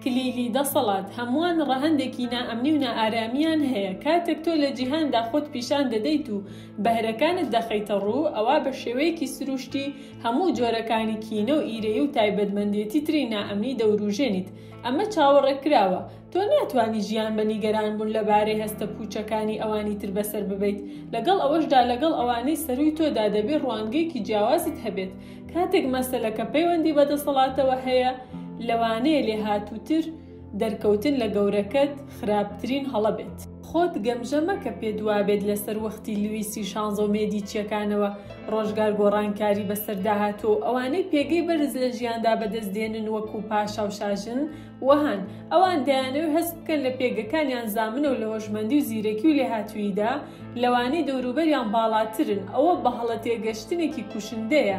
کلیلی دەسەڵات هەموان ڕەهەندێکی نائەمنی و نائارامیان هەیە کاتێک تۆ لە جیهاندا خۆت پیشان دەدەیت و بەهرەکانت دەخەیتە ڕوو ئەوا بە شێوەیەکی سروشتی هەموو جۆرەکانی کینە و ئیرەیی و تایبەتمەندێتی تری نائەمنی دەوروژێنیت ئەمە چاوەڕێ کراوە تۆ ناتوانی ژیان بە نیگەران بوون لە بارەی هەستە پوچەکانی ئەوانی تر بەسەر ببەیت لەگەڵ ئەوەشدا لەگەڵ ئەوانەی سەرووی تۆدا دەبێ ڕوانگەیەکی جیاوازت هەبێت کاتێک مەسەلەکە پەیوەندی بە دەسەڵاتەوە هەیە لەوانەیە لێهاتووتر دەرکەوتن لە گەورەکەت خراپترین هەڵە بێت. خۆت گەمژە مەکە پێت وابێت لە سەروەختی لویسی شانزە و مێدیچیەکانەوە ڕۆژگار گۆڕانکاری بەسەردا هاتووە و ئەوانەی پێگەی بەرز لە ژیاندا بەدەست دێنن وەکو پاشا و شاژن و هەن، ئەوان دەیانەوێت هەست بکەن لە پێگەکانیان زامنە و لە هۆشمەندی و زیرەکی و لێهاتووییدا لەوانەی دەوروبەریان باڵاترن، ئەوە بەهەڵەتێگەشتنێکی کوشندەیە،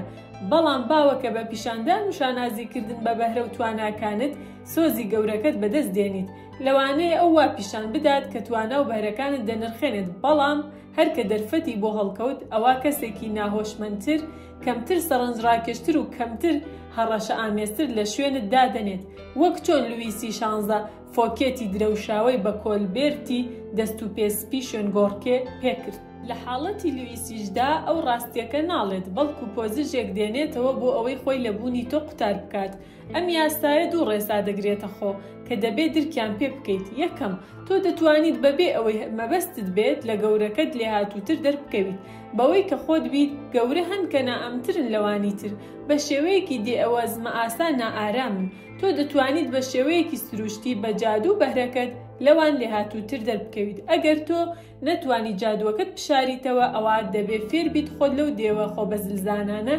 بەڵام باوە کە بە پیشاندان و شانازیکردن بە بەهرە و تواناکانت سۆزی گەورەکەت بەدەست دێنیت، لەوانەیە ئەو وا پیشان بدات کە توانا و بەهرەکانت دەنرخێنێت، بەڵام هەر کە دەرفەتی بۆ هەڵکەوت، ئەوا کەسێکی ناهۆشمەندتر کەمتر سەڕنجڕاکێشتر و کەمتر هەڕەشەئامێزتر لە شوێنت دادەنێت، وەک چۆن لویسی شانزە فۆکێتی درەوشاوەی بە کۆلبێرتی دەست و پێ سپی شوێنگۆڕکێ پێ کرد. لە حاڵەتی لویسیشدا ئەو ڕاستییەکە ناڵێت، بەڵکو پۆزژێک دێنێتەوە بۆ ئەوەی خۆی لە بوونی تۆ قوتار بکات، ئەم یاسایە دوو ڕێسا دەگرێتە خۆ کە دەبێت درکیان پێ بکەیت یەکەم تۆ دەتوانیت بەبێ ئەوەی مەبەستت بێت لە گەورەکەت لێهاتووتر دەربکەویت بەوەی کە خۆت بیت گەورە هەن کە نائەمترن لەوانی تر بە شێوەیەکی دێ ئەوە زمە ئاسا نائارامن تۆ دەتوانیت بە شێوەیەکی سروشتی بە جادو بەهرەکەت لەوان لێهاتووتر دەربکەویت ئەگەر تۆ نەتوانی جادووەکەت بشاریتەوە ئەوا دەبێ فێربیت خۆت لەو دێوە خۆبەزلزانانە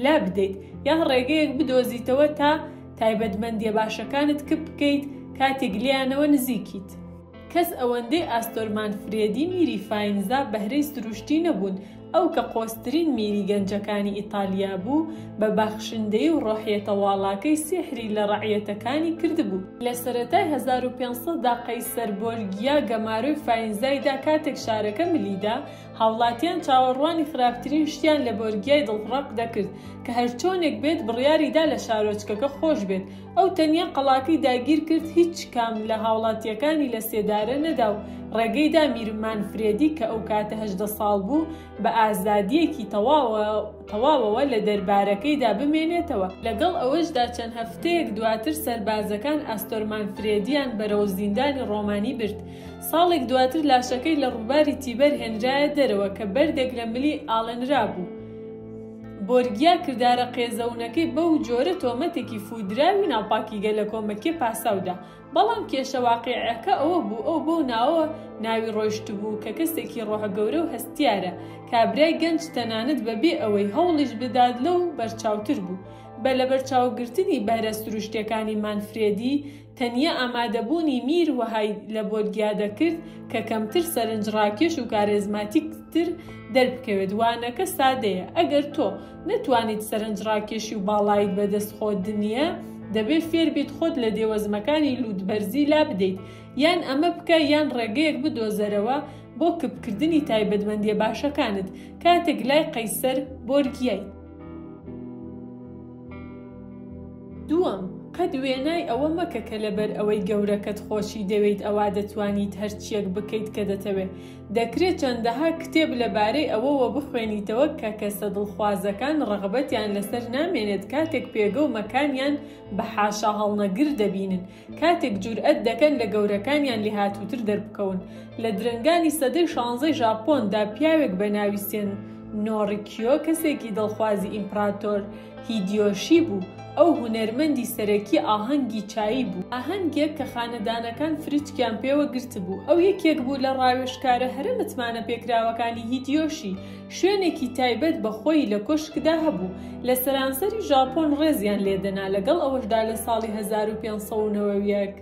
لابدەیت یان ڕێگەیەک بدۆزیتەوە تا تایبەتمەندیە باشەکانت کپ بکەیت کاتێک لێیانەوە نزیکیت. کەس ئەوەندەی ئاستۆرمان فرێدی میری فاینزا بەهرەی سروشتی نەبوون، ئەو کە قۆزترین میری گەنجەکانی ئیتالیا بوو، بە بەخشندەیی و ڕۆحیەتە واڵاکەی سیحری لە ڕەعیەتەکانی کردبوو. لە سەرەتای هەزار و پێنج سەد دا قەیسەر بۆرگیا گەمارۆی فاینزای دا کاتێک شارەکە ملی دا، هاوڵاتیان چاوەڕوانی خراپترین شتیان لە بۆرگیای دڵڕەق دەکرد کە هەرچۆنێک بێت بڕیاری دا لە شارۆچکەکە خۆش بێت ئەو تەنیا قەڵاکەی داگیر کرد هیچ کام لە هاوڵاتییەکانی لە سێدارە نەدا و ڕێگەی دا میر مانفرێدی کە ئەو کاتە هەژدە ساڵ بوو بە ئازادییەکی تەواوەوە لە دەربارەکەیدا بمێنێتەوە. لەگەڵ ئەوەشدا چەند هەفتەیەک دواتر سەربازەکان ئاستۆر مانفرێدییان بەرەو زیندانی ڕۆمانی برد. ساڵێک دواتر لاشەکەی لە ڕووباری تیبەر هێنرایە دەرەوە کە بەردێک لە ملی ئاڵێنرابوو. بۆرگیا کردارە قێزەونەکەی بەو جۆرە تۆمەتێکی فوودراوی ناوپاکی گەلە کۆمەکیە پاساودا، بەڵام کێشە واقیعیەکە ئەوە بوو ئەو بەو ناوەوە ناوی ڕۆیشتبوو کە کەسێکی ڕۆحە گەورە و هەستیارە، کابرای گەنج تەنانەت بەبێ ئەوەی هەوڵیش بدات لەو بەرچاوتر بوو، بە لەبەرچاوگرتنی بەهرە سروشتیەکانی مانفرێدی، تەنیا ئامادەبوونی میر وەهای لە بۆدگیا دەکرد کە کەمتر سەرنجڕاکێش و کارێزماتیکتر دەربکەوێت. وانەکە سادەیە، ئەگەر تۆ نەتوانیت سەرنجڕاکێشی و باڵایت بەدەست خۆت نییە، دەبێت فێربیت خۆت لە دێوەزمەکانی لووتبەرزی لابدەیت. یان ئەمە بکە یان ڕێگەیەک بدۆزەرەوە بۆ کپکردنی تایبەتمەندییە باشەکانت کاتێک لای قەیسەر بۆرگیایت. دووەم، قەت وێنای ئەوە مەکە کە لەبەر ئەوەی گەورەکەت خۆشی دەوێیت ئەوا دەتوانیت هەرچییەک بکەیت کە دەتەوێت، دەکرێت چەندەها کتێب لەبارەی ئەوەوە بخوێنیتەوە کە کەسە دڵخوازەکان ڕەغبەتیان لەسەر نامێنێت کاتێک پێگە و مەکانیان بە حاشا هەڵنەگر دەبینن، کاتێک جورئەت دەکەن لە گەورەکانیان لێهاتووتر دەربکەون. لە درەنگانی سەدەی شانزەی ژاپۆن دا پیاوێک بە ناوی سێن نۆڕیکیۆ کەسێکی دڵخوازی ئیمپڕاتۆر هیدیۆشی بوو. ئەو هونەرمەندی سەرەکی ئاهەنگی چایی بوو. ئاهەنگێک کە خانەدانەکان فریچکیان پێوە گرتبوو. ئەو یەکێک بوو لە ڕاوێژکارە هەرە متمانەپێکراوەکانی هیدیۆشی. شوێنێکی تایبەت بە خۆی لە کۆشکدا هەبوو، لە سەرانسەری ژاپۆن ڕێزیان لێ دەنا، لەگەڵ ئەوەشدا لە ساڵی هەزار و پێنج سەد و نەوەد و یەک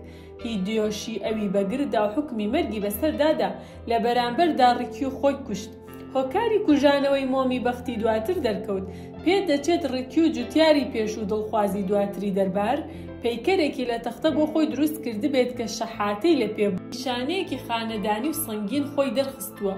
هیدیۆشی ئەوی بە گرت دا و حوکمی مەرگی بە سەردا دا، لە بەرامبەردا ڕیکیو خۆی کوشت. هۆکاری کوژانەوەی مۆمی بەختی دواتر دەرکەوت. پێ دەچێت ڕیکیو جوتیاری پێشوو دڵخوازی دواتری دەربار، پەیکەرێکی لە تەختە بۆ خۆی دروست کردبێت کە شەحاتەی لە پێ بوو، نیشانەیەکی خانەدانی و سەنگین خۆی دەرخستووە،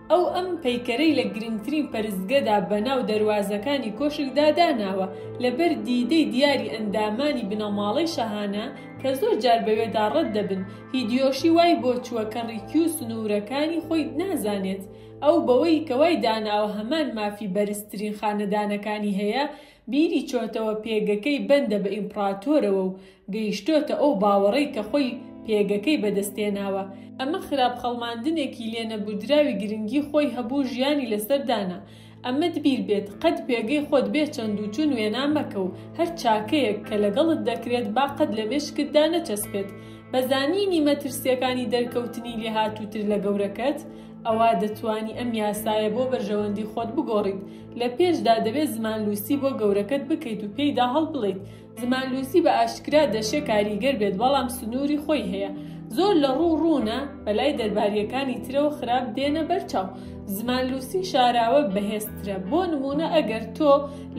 ئەو ئەم پەیکەرەی لە گرنگترین پەرستگەدا بەناو دەروازەکانی کۆشکدا داناوە، لەبەر دیدەی دیاری ئەندامانی بنەماڵەی شاهانە کە زۆر جار بەوێدا ڕەت دەبن، هیدیۆشی وای بۆ چووە کە ڕیکیو سنوورەکانی خۆی نازانێت، ئەو بەوەی کە وای داناوە هەمان مافی بەرزترین خانەدانەکانی هەیە، بیری چۆتەوە پێگەکەی بەندە بە ئیمپڕاتۆرەوە و گەیشتۆتە ئەو باوەڕەی کە خۆی پێگەکەی بەدەستهێناوە. ئەمە خراپ خەڵماندنێکی لێنەبوردراوی گرنگی خۆی هەبوو ژیانی لەسەر دانا. ئەمەت بیر بێت قەت پێگەی خۆت بێ چەند و چون وێنا مەکە و هەر چاکەیەک کە لەگەڵت دەکرێت با قەت لە مێشکتدا نەچەسپێت. بە زانینی مەترسیەکانی دەرکەوتنی لێهاتووتر لە گەورەکەت، ئەوا دەتوانی ئەم یاسایە بۆ بەرژەوەندی خۆت بگۆڕیت. لە پێشدا دەبێت زمانلووسی بۆ گەورەکەت بکەیت و پێیدا هەڵبڵێیت. زمانلووسی بە ئاشکرا دەشێ کاریگەر بێت بەڵام سنووری خۆی هەیە. زۆر لە ڕوو ڕوونە بەلای دەربارییەکانی ترەوە خراپ دێنە بەرچاو. زمانلووسی شاراوە بەهێزترە. بۆ نموونە ئەگەر تۆ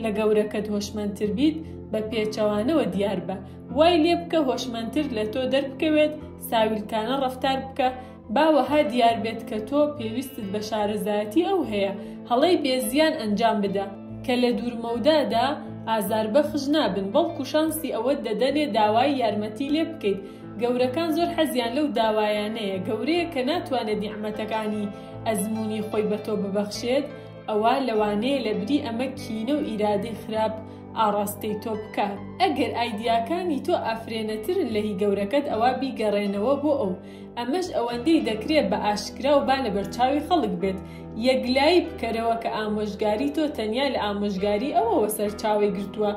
لە گەورەکەت هۆشمەندتر بیت، بە پێچەوانەوە دیار بە. وای لێ بکە هۆشمەندتر لە تۆ دەربکەوێت، ساویلکانە ڕەفتار بکە، با وەها دیار بێت کە تۆ پێویستت بە شارەزایەتی ئەو هەیە، هەڵەی بێ زیان ئەنجام بدە، کە لە دوورمەودادا ئازاربەخش نابن، بەڵکو شانسی ئەوەت دەدەنێ داوای یارمەتی لێ بکەیت. گەورەکان زۆر حەزیان لەو داوایانەیە، گەورەیەک کە ناتوانێت نیعمەتەکانی ئەزموونی خۆی بە تۆ ببەخشێت، ئەوا لەوانەیە لە بری ئەمە کینە و ئیرادەی خراپ ئاڕاستەی تۆ بکات. ئەگەر ئایدیاکانی تۆ ئافرێنەترن لە هی گەورەکەت، ئەوا بیگەڕێنەوە بۆ ئەو. ئەمەش ئەوەندەی دەکرێت بە ئاشکرا و با لە بەرچاوی خەڵک بێت. یەکلایی بکەرەوە کە ئامۆژگاری تۆ تەنیا لە ئامۆژگاری ئەوەوە سەرچاوەی گرتووە.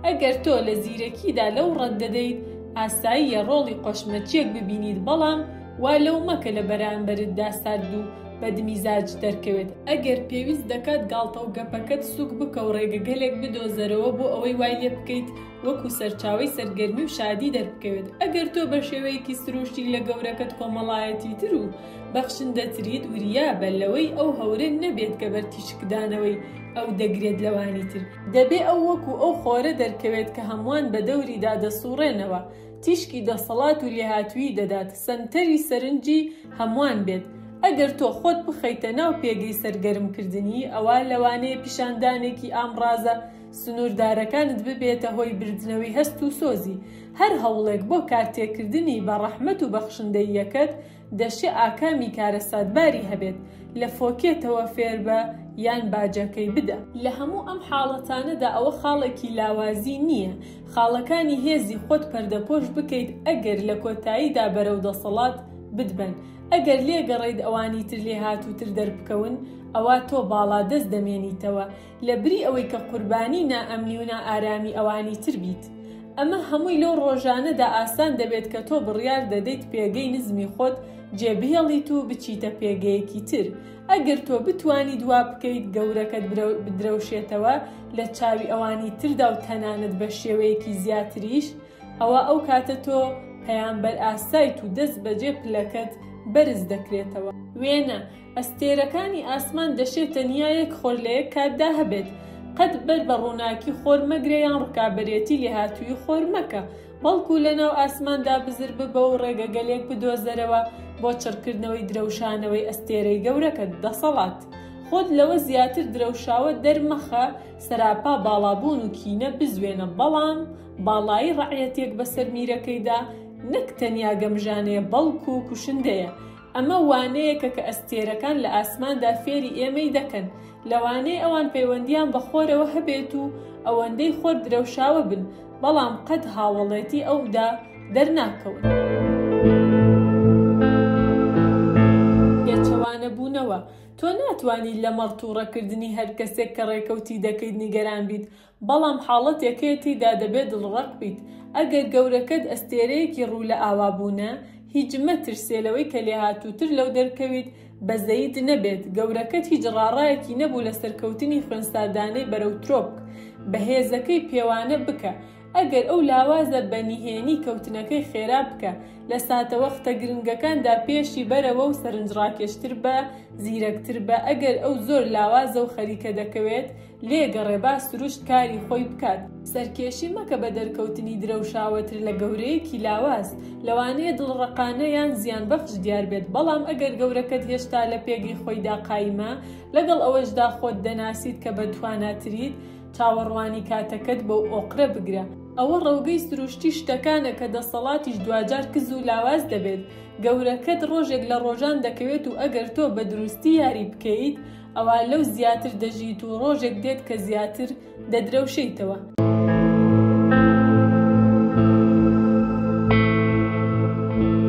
ئەگەر تۆ لە زیرەکیدا لەو ڕەت دەدەیت، ئاساییە ڕۆڵی قۆشمەچییەک ببینیت بەڵام وا لەو مەکە لە بەرانبەرتدا سارد و بەدمیزاج دەرکەوێت. ئەگەر پێویست دەکات گاڵتە و گەپەکەت سووک بکە و ڕێگەگەلێک بدۆزەرەوە بۆ ئەوەی وای لێ بکەیت وەکو سەرچاوەی سەرگەرمی و شادی دەربکەوێت، ئەگەر تۆ بە شێوەیەکی سروشتی لە گەورەکەت کۆمەڵایەتیتر و بەخشندەتریت، وریابە لەوەی ئەو هەورە نەبێت کە بەر تیشکدانەوەی ئەو دەگرێت لەوانی تر، دەبێت ئەو وەکو ئەو خۆرە دەرکەوێت کە هەمووان بەدەوریدا دەسوڕێنەوە، تیشکی دەسەڵات و لێهاتوویی دەدات، سەنتەری سەرنجی هەمووان بێت، ئەگەر تۆ خۆت بخەیتە ناو پێگەی سەرگەرمکردنی، ئەوا لەوانەیە پیشاندانێکی ئامڕازە، سنووردارەکانت ببێتە هۆی بردنەوەی هەست و سۆزی. هەر هەوڵێک بۆ کارتێکردنی بە ڕەحمەت و بەخشندەییەکەت، دەشێ ئاکامی کارەساتباری هەبێت، لە فۆکێتەوە فێربە یان باجەکەی بدە. لە هەموو ئەم حاڵەتانەدا ئەوە خاڵێکی لاوازی نییە خاڵەکانی هێزی خۆت پەردەپۆش بکەیت ئەگەر لە کۆتاییدا بەرەو دەسەڵات بتبەن. ئەگەر لێگەڕێیت ئەوانی تر لێهاتووتر دەربکەون، ئەوا تۆ باڵادەست دەمێنیتەوە. لە بری ئەوەی کە قوربانی نائەمنی و نائارامی ئەوانی تر بیت. ئەمە هەمووی لەو ڕۆژانەدا ئاسان دەبێت کە تۆ بڕیار دەدەیت پێگەی نزمی خۆت جێبهێڵیت و بچیتە پێگەیەکی تر. ئەگەر تۆ بتوانیت وا بکەیت گەورەکەت بدرەوشێتەوە لە چاوی ئەوانی تردا و تەنانەت بە شێوەیەکی زیاتریش، ئەوا ئەو کاتە تۆ پەیامبەر ئاسایت و دەستبەجێ پلەکەت بەرز دەکرێتەوە. وێنە، ئەستێرەکانی ئاسمان دەشێ تەنیا یەک خۆر لە یەک کاتدا هەبێت. قەت بەر بە ڕووناکی خۆر مەگرە یان ڕکابەرێتی لێهاتوویی خۆر مەکە، بەڵکوو لەناو ئاسماندا بزر ببە و ڕێگەگەلێک بدۆزەرەوە بۆ چڕکردنەوەی درەوشانەوەی ئەستێرەی گەورەکەت. دەسەڵات. خۆت لەوە زیاتر درەوشاوە دەرمەخە، سەراپا باڵابوون و کینە بزوێنە، بەڵام باڵایی ڕەعیەتێک بەسەر میرەکەیدا نەک تەنیا گەمژانەیە بەڵکوو کوشندەیە. ئەمە وانەیەکە کە ئەستێرەکان لە ئاسماندا فێری ئێمەی دەکەن، لەوانەیە ئەوان پەیوەندییان بە خۆرەوە هەبێت و ئەوەندەی خۆر درەوشاوە بن، بەڵام قەت هاوەڵێتی ئەو دا دەرناکەون. پێچەوانەبوونەوە، تۆ ناتوانیت لەمەڕ تووڕەکردنی هەر کەسێک کە ڕێکەوتی دەکەیت نیگەران بیت، بەڵام حاڵەتێکەیە تیدا دەبێ دڵڕەق بیت ئەگەر گەورەکەت ئەستێرەیەکی ڕوو لە ئاوا بوونە، هیچ مەترسێ لەوەی کە لێهاتووتر لەو دەرکەویت بەزەییت نەبێت، گەورەکەت هیچ ڕاڕایەکی نەبوو لە سەرکەوتنی خوێنساردانەی بەرەو ترۆپک بەهێزەکەی پێوانە بکە ئەگەر ئەو لاوازە بە نهێنی کەوتنەکەی خێرا بکە لە ساتەوەختە گرنگەکاندا پێشی بەرەوە و سەرنجڕاکێشتر بە زیرەکتر بە ئەگەر ئەو زۆر لاوازە و خەریکە دەکەوێت لێ گەڕێ با سروشت کاری خۆی بکات. سەرکێشی مەکە بە دەرکەوتنی درەوشاوەتر لە گەورەیەکی لاواز. لەوانەیە دڵڕەقانە یان زیانبەخش دیار بێت، بەڵام ئەگەر گەورەکەت هێشتا لە پێگەی خۆیدا قایمە، لەگەڵ ئەوەشدا خۆت دەناسیت کە بەتواناتریت، چاوەڕوانی کاتەکەت بەو ئۆقرە بگرە. ئەوە ڕەوگەی سروشتی شتەکانە کە دەسەڵاتیش دواجار کز و لاواز دەبێت. گەورەکەت ڕۆژێک لە ڕۆژان دەکەوێت و ئەگەر تۆ بە دروستی یاری بکەیت، ئەوا لەو زیاتر دەژیت و ڕۆژێک دێت کە زیاتر دەدرەوشێیتەوە.